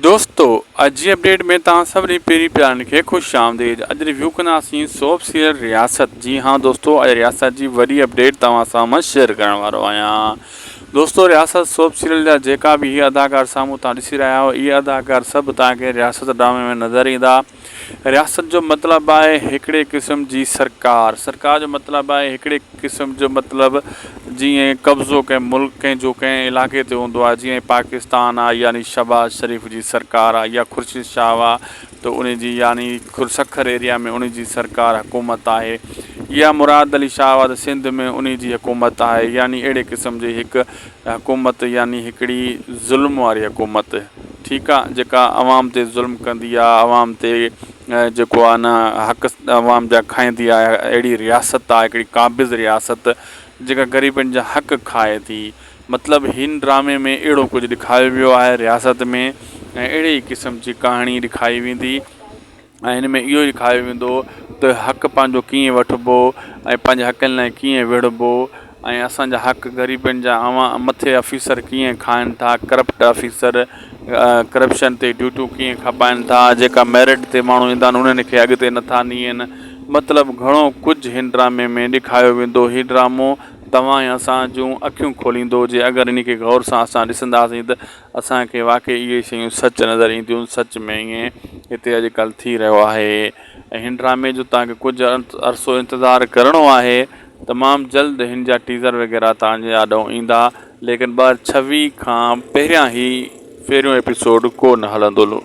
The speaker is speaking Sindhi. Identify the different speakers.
Speaker 1: دوستو اڄ جي اپڊيٽ ۾ توهان سڀني پيري پيارن کي خوش آمديد اڄ ريويو ڪنداسين سوپ سيريل رياست جي ها دوستو اڄ رياست جي وڏي اپڊيٽ توهان سامهون شيئر ڪرڻ وارو آهيان دوستو رياست سوپ سيريل جا جيڪا به هي اداڪار سامهون تان ڏسي رهيا آهيو اهي اداڪار سڀ توهان کي رياست ڊرامي ۾ نظر ايندا رياست جو مطلب آهي هڪڙي قسم جي سرڪار. سرڪار جو مطلب آهي هڪڙي قسم جو مطلب جيئن قبضو ڪنهن ملڪ ڪنهن جو ڪنهن علائقي تي هوندو آهي جيئن پاڪستان آهي يعني شهباز شريف جي سرڪار آهي يا خورشيد شاهه آهي ته انهي جي يعني سکر ايريا ۾ انهي جي سرڪار حڪومت آهي يا مراد علي شاهه آهي ته سنڌ ۾ انهي جي حڪومت آهي يعني اهڙي قسم جي هڪ حڪومت يعني هڪڙي ظلم واري حڪومت ٺيڪ آ جيڪا عوام تي ظلم ڪندي آ عوام تي جيڪو آ نه حق عوام جا کائيندي آ اهڙي رياست آ هڪڙي قابض رياست جيڪا غريبن جا حق کائي ٿي مطلب هن ڊرامي ۾ اهڙو ڪجهه ڏيکايو ويو آهي رياست ۾ ۽ اهڙي ئي قسم جي ڪهاڻي ڏيکاري ويندي. ۽ هن ۾ اهو ئي ڏيکاريو ويندو ته حق پنهنجو ڪيئن وٺبو ۽ پنهنجي حقن لاء ڪيئن وڙهبو ۽ اسانجا حق غريبن جا اوهان مٿي آفيسر ڪيئن کائن ٿا ڪرپٽ آفيسر ڪرپشن تي ڊيوٽيون ڪيئن کپائن ٿا جيڪا ميرٽ تي ماڻهو ايندا آهن انهن کي اڳتي نٿا نيئن مطلب گهڻو ڪجهه هن ڊرامي ۾ ڏيکاريو ويندو هي ڊرامو توهان ۽ اسان جون اکيون کوليندو جي اگر انهي کي غور سان اسان ڏسنداسين ته اسان کي واقعي اهي شيون سچ نظر اينديون، سچ ۾ ائين هتي اڄ ڪلهه ٿي رهيو آهي ۽ هن ڊرامي جو توهان کي ڪجهه عرصو انتظار ڪرڻو آهي، تمام جلد هن جا ٽيزر وغيره توهان جي آڏو ايندا ليڪن ٻه هزار ڇويهه کان پهريان هي پهريون ايپيسوڊ ڪو نه هلندو.